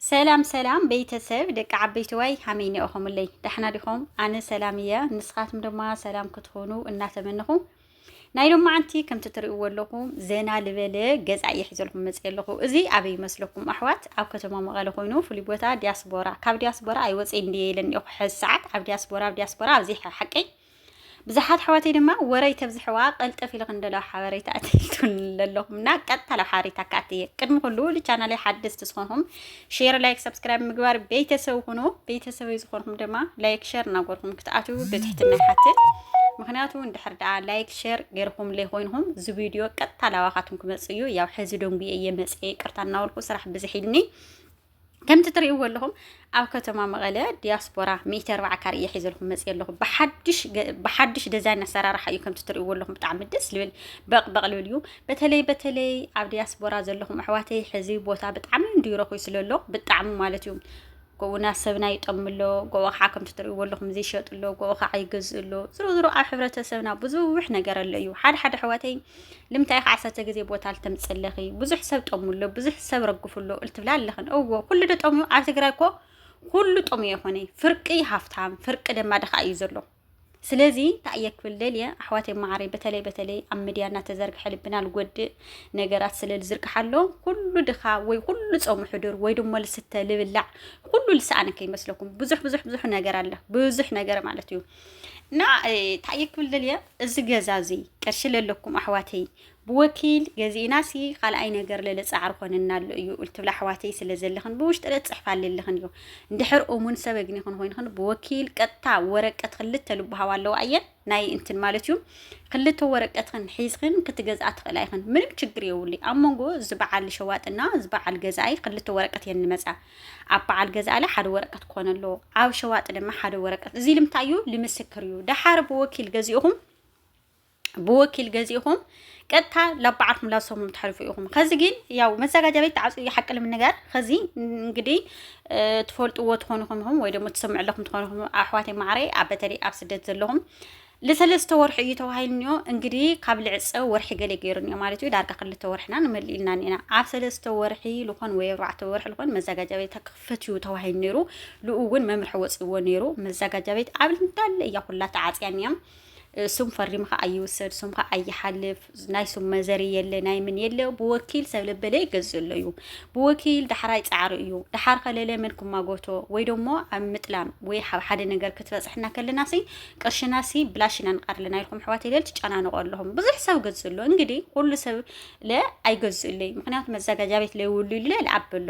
ሰላም ሰላም ቤተሰብ ደቂ ዓበይትዋይ ሃመይ ኒኦኹምለይ ዳሕና ዲኹም ኣነ ሰላም እየ ንስኻትም ድማ ሰላም ክትኾኑ እናተመንኹ ናይ ሎማዓንቲ ከምቲ ትርእይዎ ኣለኹም ዘና ልበለ ገዛ እየ ሒዘልኩም መፅእ ኣለኹ እዚ ኣበይ ይመስለኩም ኣሕዋት ኣብ ከተማ መቐለ ኮይኑ ፍሉይ ቦታ ዲያስቦራ ካብ ዲያስቦራ ኣይወፅእ እንድየ ኢለን እኒኦኹ ሕዚ ሰዓት ኣብ ዲያስቦራ ኣብ ዲያስቦራ ኣብዚ ሓቀይ ብዙሓት ኣሕዋተይ ድማ ወረይ ተብዝሕዋ ቀልጠፍ ኢልኽን ደሎ ሓበሬታ ኣትልቱን ለለኹምና ቀጥታ ላብ ሓበሬታ ካትየ ቅድሚ ኩሉ ልቻናለይ ሓደስቲ ዝኾንኹም ሼር ላይክ ሰብስክራይብ ምግባር ቤተሰብ ኩኑ ቤተሰበይ ዝኾንኹም ድማ ላይክ ሸር እናጎርኹም ክትኣትው ብትሕትና ይሓትት ምክንያቱ እንድሕር ደኣ ላይክ ሸር ገይርኹም ለይኮይንኹም እዚ ቪድዮ ቀጥታ ላባኻትኩም ክመፅእ እዩ ያው ሕዚ ደንጉየ እየ መፅየ ይቅርታ እናበልኩ ስራሕ ብዝሕ ኢልኒ ከምቲ ትርእይዎ ኣለኹም ኣብ ከተማ መቐለ ዲያስፖራ ሚእቲ ኣርባዓ ካር እየ ሒዘልኩም መፅእ ኣለኹ ብሓድሽ ደዛይን ኣሰራርሓ እዩ ከምቲ ትርእይዎ ኣለኹም ብጣዕሚ ደስ ልብል በቕበቕ ልብል እዩ በተለይ በተለይ ኣብ ዲያስፖራ ዘለኹም ኣሕዋተይ ሕዚ ቦታ ብጣዕሚ እንዲረኹ ስለሎ ብጣዕሚ ማለት እዩ ጎኡና ሰብና ይጠም ኣሎ ጎኡ ከዓ ከምቲ ትርእይዎ ኣለኹም ዘይሸጥ ኣሎ ጎኡ ከዓ ይገዝእ ኣሎ ዝሮ ዝሮ ኣብ ሕብረተሰብና ብዙሕ ነገር ኣሎ እዩ ሓደ ሓደ ኣሕዋተይ ልምታይ ኢኺ ዓሰርተ ግዜ ቦታ ልተምፅ ኣለኺ ብዙሕ ሰብ ጠሙ ኣሎ ብዙሕ ሰብ ረግፉ ኣሎ እልትብላ ኣለኽን እዎ ኩሉ ዶ ጠምዩ ኣብ ትግራይ እኮ ኩሉ ጠምዩ የኾነ ፍርቂ ሃፍታም ፍርቂ ደማ ድኻ እዩ ዘሎ ስለዚ እንታይ እየ ክብል ደልየ ኣሕዋተይ ማዓረይ በተለይ በተለይ ኣብ ሚድያ እናተዘርግሐ ልብና ልጎድእ ነገራት ስለ ዝዝርግሓ ኣሎ ኩሉ ድኻ ወይ ኩሉ ፀሙ ሕዱር ወይ ድሞ ልስተ ልብላዕ ኩሉ ልሰኣነ ከይመስለኩም ብዙሕ ብዙሕ ብዙሕ ነገር ኣለ ብዙሕ ነገር ማለት እዩ እና ታየ ክብል ደልየ እዚ ገዛ እዚ ቅርሺ ለለኩም ኣሕዋተይ ብወኪል ገዚእና ሲ ካልኣይ ነገር ለለ ፃዕሪ ኮነና ኣሎ እዩ እልትብላ ኣሕዋተይ ስለ ዘለኽን ብውሽጢ ለፅሕፋ ኣለለኽን እዩ እንድሕር እሙን ሰብ እግኒ ክንኮይንኽን ብወኪል ቀጥታ ወረቀት ክልተ ልብሃዋ ኣለዋ እየን ናይ እንትን ማለት እዩ ክልተ ወረቀትኽን ሒዝኽን ክትገዝኣ ትኽእላ ይኽን ምንም ችግር የውልይ ኣብ መንጎ ዝበዓል ሸዋጥና ዝበዓል ገዛኣይ ክልተ ወረቀት እየን ንመፃ ኣብ በዓል ገዛእለ ሓደ ወረቀት ክኾነ ኣለዎ ኣብ ሸዋጥ ድማ ሓደ ወረቀት እዚ ልምታይ እዩ ልምስክር እዩ ደሓር ብወኪል ገዚእኹም ብወኪል ገዚእኹም ቀጥታ ላብ በዓልኩም ላብ ሰሙም ትሓልፉ ኢኹም ከዚ ግን ያው መዘጋጃ ቤት ተዓፅዩ እዩ ሓቂ ንምንጋር ከዚ እንግዲህ ትፈልጥዎ ትኾኑ ኢኹም ወይ ደግሞ ትሰምዑ ኣለኹም ትኾኑ ኢኹም ኣሕዋተይ ማዕረይ ኣብ በተለይ ኣብ ስደት ዘለኹም ልሰለስተ ወርሑ እዩ ተባሂልኒዮ እንግዲ ካብ ልዕጸ ወርሒ ገሌ ገይሩኒዮ ማለት እዩ ዳርጋ ክልተ ወርሕና ንመልእ ኢልና ኒና ኣብ ሰለስተ ወርሒ ልኾን ወይ ኣርባዕተ ወርሒ ልኾን መዛጋጃ ቤት ተክፈት እዩ ተባሂሉ ነይሩ ልኡ እውን መምርሒ ወጽእዎ ነይሩ መዛጋጃ ቤት ኣብ እንዳለ እያ ኩላ ተዓጽያ ኒያ ስም ፈሪምኻ ኣይውሰድ ስምኻ ኣይሓልፍ ናይ ስም መዘሪ የለ ናይ ምን የለ ብወኪል ሰብ ለበለ ይገዝእ ኣሎ እዩ ብወኪል ዳሕራይ ፃዕሪ እዩ ዳሓር ከለለ መን ክማጎቶ ወይ ደሞ ኣብ ምጥላም ወይ ኣብ ሓደ ነገር ክትበፅሕና ከለና ሲ ቅርሽና ሲ ብላሽ ኢና ንቃር ኣለና ኢልኩም ሕዋት የለል ትጨናንቆ ኣለኹም ብዙሕ ሰብ ገዝእ ኣሎ እንግዲህ ኩሉ ሰብ ለ ኣይገዝእ ኣለይ ምክንያቱ መዘጋጃ ቤት ለይውሉ ይለ ልዓበሎ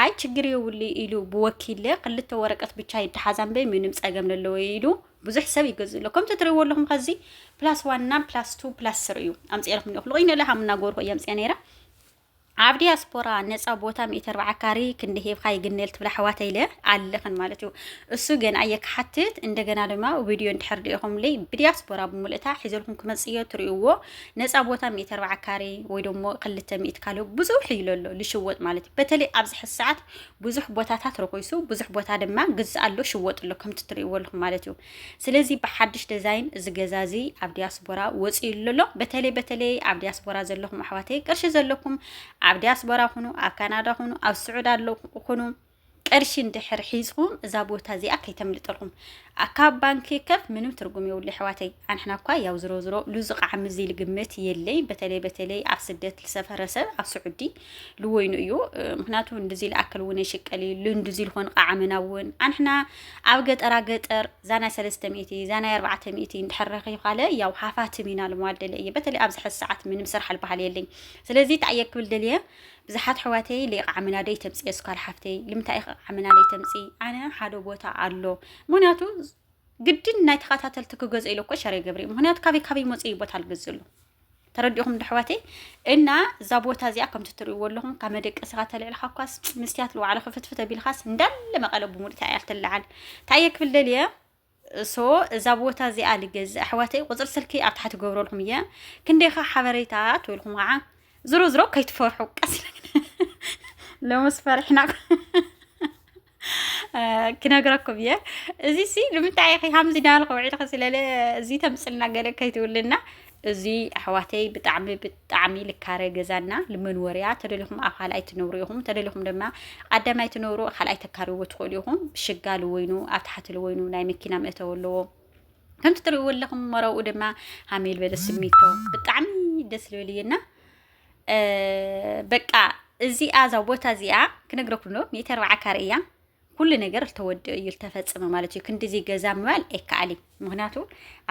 ኣይ ችግር የውልይ ኢሉ ብወኪለ ክልተ ወረቀት ብቻ ይደሓዛን በይ ምንም ፀገም ለለወ ኢሉ ብዙሕ ሰብ ይገዝእ ኣሎ ከምቲ ትርእይዎ ኣለኹም ከዚ ፕላስ ዋን እና ፕላስ ቱ ፕላስ ስሪ እዩ ኣምፅኤልኩም እኒኹ ልቑይነ ለሃ ምናገርኩ እየ ኣምፅኤ ነይረ ኣብ ዲያስፖራ ነፃ ቦታ ሚእቲ ኣርባዓ ካሪ ክንዲ ሂብካ ይግነል ትብላ ኣሕዋተይ ኢለ ኣለኽን ማለት እዩ እሱ ግን ኣየ ክሓትት እንደገና ድማ ቪድዮ እንድሕር ዲኢኹምለይ ብዲያስፖራ ብምልእታ ሒዘልኩም ክመፅእ እዮ ትርእይዎ ነፃ ቦታ ሚእቲ ኣርባዓ ካሪ ወይ ደሞ ክልተ ሚእቲ ካልኦ ብዙሕ ኢሎ ኣሎ ልሽወጥ ማለት እዩ በተለይ ኣብዚ ሕዚ ሰዓት ብዙሕ ቦታታት ረኮይሱ ብዙሕ ቦታ ድማ ግዛእ ኣሎ ሽወጥ ኣሎ ከምቲ ትርእይዎ ኣለኹም ማለት እዩ ስለዚ ብሓድሽ ደዛይን እዚ ገዛ እዚ ኣብ ዲያስፖራ ወፂኡ ኣሎ በተለይ በተለይ ኣብ ዲያስፖራ ዘለኹም ኣሕዋተይ ቅርሺ ዘለኩም ኣብ ዲያስፖራ ኩኑ ኣብ ካናዳ ኩኑ ኣብ ስዑድ ኣሎ ኩኑ ቅርሺ እንድሕር ሒዝኹም እዛ ቦታ እዚኣ ከይተምልጠልኩም ካብ ባንኪ ከፍ ምንም ትርጉም የብሉ ኣሕዋተይ ኣንሕና እኳ ያው ዝሮ ዝሮ ሉዚ ቃዕሚ እዚ ልግምት የለይ በተለይ በተለይ ኣብ ስደት ዝሰፈረ ሰብ ኣብ ስዑዲ ልወይኑ እዩ ምክንያቱ እንድዚ ልኣክል እውን የሽቀል እዩ ልንድዚ ልኾን ቃዓመና እውን ኣንሕና ኣብ ገጠራ ገጠር ዛናይ ሰለስተ ሚእቲ ዛናይ ኣርባዕተ ሚእቲ እንድሕረኺ ካለ ያው ሓፋትም ኢና ልመዋል ደለ እየ በተለይ ኣብዚ ሕዚ ሰዓት ምንም ስራሕ ልበሃል የለኝ ስለዚ እንታይ እየ ክብል ደልየ ብዙሓት ሕዋተይ ልቃዓመና ደይ ተምፅእ የስኳል ሓፍተይ ልምንታይ ኢኸ ቃዓመና ደይ ተምፂ ኣነ ሓደ ቦታ ኣሎ ምክንያቱ ግድን ናይ ተኸታተልቲ ክገዝኦ ኢለ እኮ ሸር ይገብር ምክንያቱ ካበይ ካበይ መፅኡ ቦታ ልገዝእሉ ተረዲኹም ዶ ኣሕዋተይ? እና እዛ ቦታ እዚኣ ከምቲ እትርእይዎ ኣለኹም ካብ መደቀሲኻ ተልዕልካ እኳስ ምስትያት ልዋዕለ ክፍትፍት ኣቢልካስ እንዳለ መቐለ ብምሉእታ እያ ትለዓል ታየ ክብል ደልየ እሶ እዛ ቦታ እዚኣ ልገዝእ ኣሕዋተይ ቁፅሪ ስልኪ ኣብ ታሕቲ ገብረልኩም እየ ክንደይኻ ሓበሬታ ትብልኩም ከዓ ዝሮ ዝሮ ከይትፈርሑ ቀስ ለሙስ ፈሪሕና ክነግረኩም እየ እዚ ሲ ንምንታይ ኢኺ ከምዚ ዳልኺ ውዒልኺ ስለለ እዚ ተምፅልና ገለ ከይትብልና እዚ ኣሕዋተይ ብጣዕሚ ብጣዕሚ ልካረ ገዛና ልመንወርያ ተደሊኹም ኣብ ካልኣይ ትነብሩ ኢኹም ተደሊኹም ድማ ቀዳማይ ትነብሩ ካልኣይ ተካርይዎ ትኽእሉ ኢኹም ሽጋ ልወይኑ ኣብ ታሕቲ ልወይኑ ናይ መኪና መእተዊ ኣለዎ ከምቲ ትርእይዎ ኣለኹም መረብኡ ድማ ሃሜል በለ ስሚንቶ ብጣዕሚ ደስ ልብል እየና በቃ እዚኣ እዛ ቦታ እዚኣ ክነግረኩም ዶ ሜተር በዓካር እያ ኩሉ ነገር ተወዲኡ እዩ ዝተፈፀመ ማለት እዩ ክንዲዚ ገዛ ምባል ኣይከኣል እዩ ምክንያቱ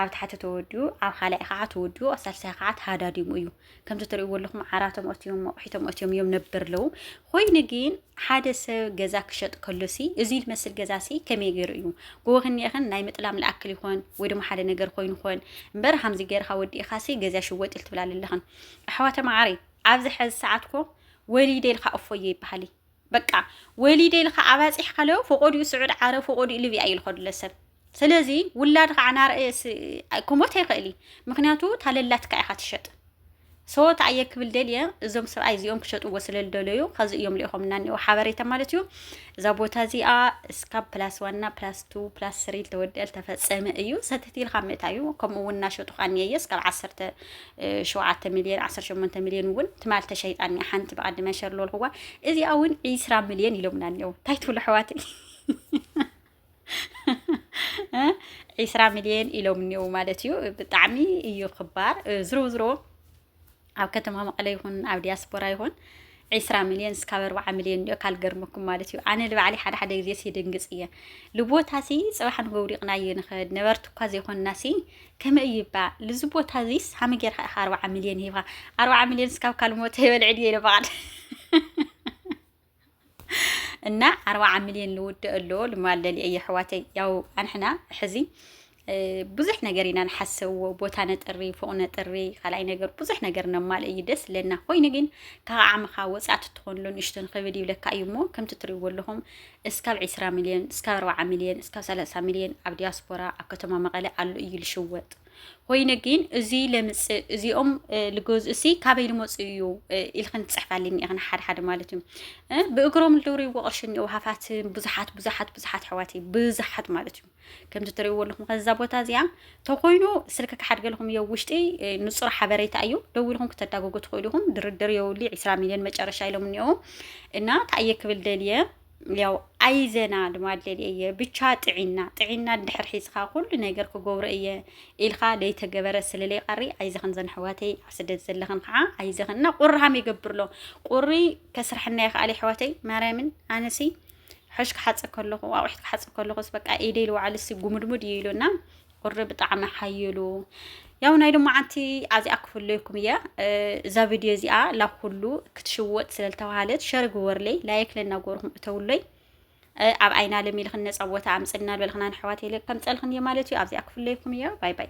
ኣብ ታሕቲ ተወዲኡ ኣብ ካልኣይ ከዓ ተወዲኡ ኣብ ሳልሳይ ከዓ ተሃዳዲሙ እዩ ከምዚ ትሪእዎ ኣለኹም ዓራቶም ኣትዮም ኣቑሒቶም ኣትዮም እዮም ነበር ኣለዉ ኮይኑ ግን ሓደ ሰብ ገዛ ክሸጥ ከሎ ሲ እዚ ዝመስል ገዛ ሲ ከመይ ገይሩ እዩ ጎቦ ክንየኸን ናይ ምጥላም ልኣክል ይኾን ወይ ድማ ሓደ ነገር ኮይኑ ኾን እምበር ሃምዚ ገይርካ ወዲእኻ ሲ ገዛ ሽወጥ ኢል ትብላ ኣለኽን ኣሕዋተ መዓረይ ኣብዚ ሐዚ ሰዓት ኮ ወሊደ ኢልካ እፎየ ይበሃሊ በቃ ወሊደ ኢልካ ኣባፂሕካ ለው ፈቆዲኡ ስዑድ ዓረብ ፈቆዲኡ ልብያ እዩ ዝኸዱለ ሰብ ስለዚ ውላድ ከዓ ናርእ ክሞት ኣይኽእል እዩ ምክንያቱ ታለላትካ ኢኻ ትሸጥ ሰወት ኣየ ክብል ደልየ እዞም ሰብኣይ እዚኦም ክሸጥዎ ስለ ዝደለዩ ከዚ እዮም ልኢኾምና እኒኦ ሓበሬታ ማለት እዩ እዛ ቦታ እዚኣ እስካብ ፕላስ ዋና ፕላስ ቱ ፕላስ ስሪ ተወዲአል ተፈፀመ እዩ ሰትት ኢልካ ምእታ እዩ ከምኡ እውን እናሸጡ ካኒየየ እስካብ ዓሰርተ ሸውዓተ ሚልዮን ዓሰርተ ሸሞንተ ሚልዮን እውን ትማል ተሸይጣ እኒኣ ሓንቲ ብዓዲ መንሸር ለልኹዋ እዚኣ እውን ዒስራ ሚልዮን ኢሎምና እኒው እንታይ ትብሉ ኣሕዋተይ ዒስራ ሚልዮን ኢሎም እኒው ማለት እዩ ብጣዕሚ እዩ ክባር ዝሮ ዝሮ ኣብ ከተማ መቐለ ይኹን ኣብ ዲያስፖራ ይኹን ዕስራ ሚልዮን እስካብ ኣርብዓ ሚልዮን ዲዮ ካልገርመኩም ማለት እዩ ኣነ ልባዕሊ ሓደ ሓደ ግዜ ሲ ድንግጽ እየ ልቦታ ሲ ጽባሕ ንጎውዲቕና እየ ንኸድ ነበርቲ እኳ ዘይኮንና ሲ ከመ እዩ ይባ ልዚ ቦታ እዚስ ሃመ ጌርካ ኢኻ ኣርብዓ ሚልዮን ሂብካ ኣርብዓ ሚልዮን እስካብ ካልሞተ ይበልዕ ድየ ኢለ በቓል እና ኣርባዓ ሚልዮን ልውደእ ኣሎ ልማለል እየ ሕዋተይ ያው ኣንሕና ሕዚ ብዙሕ ነገር ኢና ንሓሰዎ ቦታ ነጥሪ ፎቅ ነጥሪ ካልኣይ ነገር ብዙሕ ነገር ነማልእ እዩ ደስ ለና ኮይኑ ግን ካብ ዓምኻ ወፃእቲ ትኾንሎ ንእሽቶ ንክብድ ይብለካ እዩ እሞ ከምቲ ትሪእዎ ኣለኹም እስካብ 20 ሚልዮን እስካብ 40 ሚልዮን እስካብ 30 ሚልዮን ኣብ ዲያስፖራ ኣብ ከተማ መቐለ ኣሎ እዩ ልሽወጥ ኮይኑ ግን እዚ ለምፅእ እዚኦም ልገዝኡ ሲ ካበይ ልመፁ እዩ ኢልክን ትፅሕፋልኒ ኢኽን ሓደ ሓደ ማለት እዩ ብእግሮም ልድውርዎ ቅርሺ እኒኦ ሃፋት ብዙሓት ብዙሓት ብዙሓት ኣሕዋተይ ብዙሓት ማለት እዩ ከምዚ ትሪእዎ ኣለኹም ከዚ እዛ ቦታ እዚኣ ተኮይኑ ስልኪ ክሓድገልኹም እዮ ውሽጢ ንፁር ሓበሬታ እዩ ደው ኢልኹም ክተዳጎጉ ትኽእሉ ኢኹም ድርድር የውሊ ዒስራ ሚልዮን መጨረሻ ኢሎም እኒኦ እና ታየ ክብል ደልየ ያው ኣይዘና ድማ ደልየ እየ ብቻ ጥዒና ጥዒና ድሕር ሒዝኻ ኩሉ ነገር ክገብሮ እየ ኢልካ ለይተገበረ ስለለይ ቃሪ ኣይዘኽን ዘንሕዋተይ ኣብ ስደት ዘለኽን ከዓ ኣይዘኽን እና ቁሪ ሃም ይገብር ኣሎ ቁሪ ከስርሐና ይኽኣል ይሕዋተይ ማርያምን ኣነሲ ሕሽ ክሓጽብ ከለኹ ኣቑሑት ክሓጽብ ከለኹስ በቃ ኢደይ ልውዓል ሲ ጉምድሙድ እዩ ኢሉና ቁሪ ብጣዕሚ ሓይሉ ያው ናይ ሎማዓንቲ ኣዚኣ ክፍለይኩም እያ እዛ ቪድዮ እዚኣ ላብ ኩሉ ክትሽወጥ ስለልተባሃለት ሸር ግበርለይ ላይክ ለናጎርኩም እተውለይ ኣብ ዓይና ለሚልኽን ነፃ ቦታ ኣምፅልና ልበልኽናን ኣሕዋት የለ ከምፀልኽን እየ ማለት እዩ ኣብዚኣ ክፍለይኩም እያ ባይ ባይ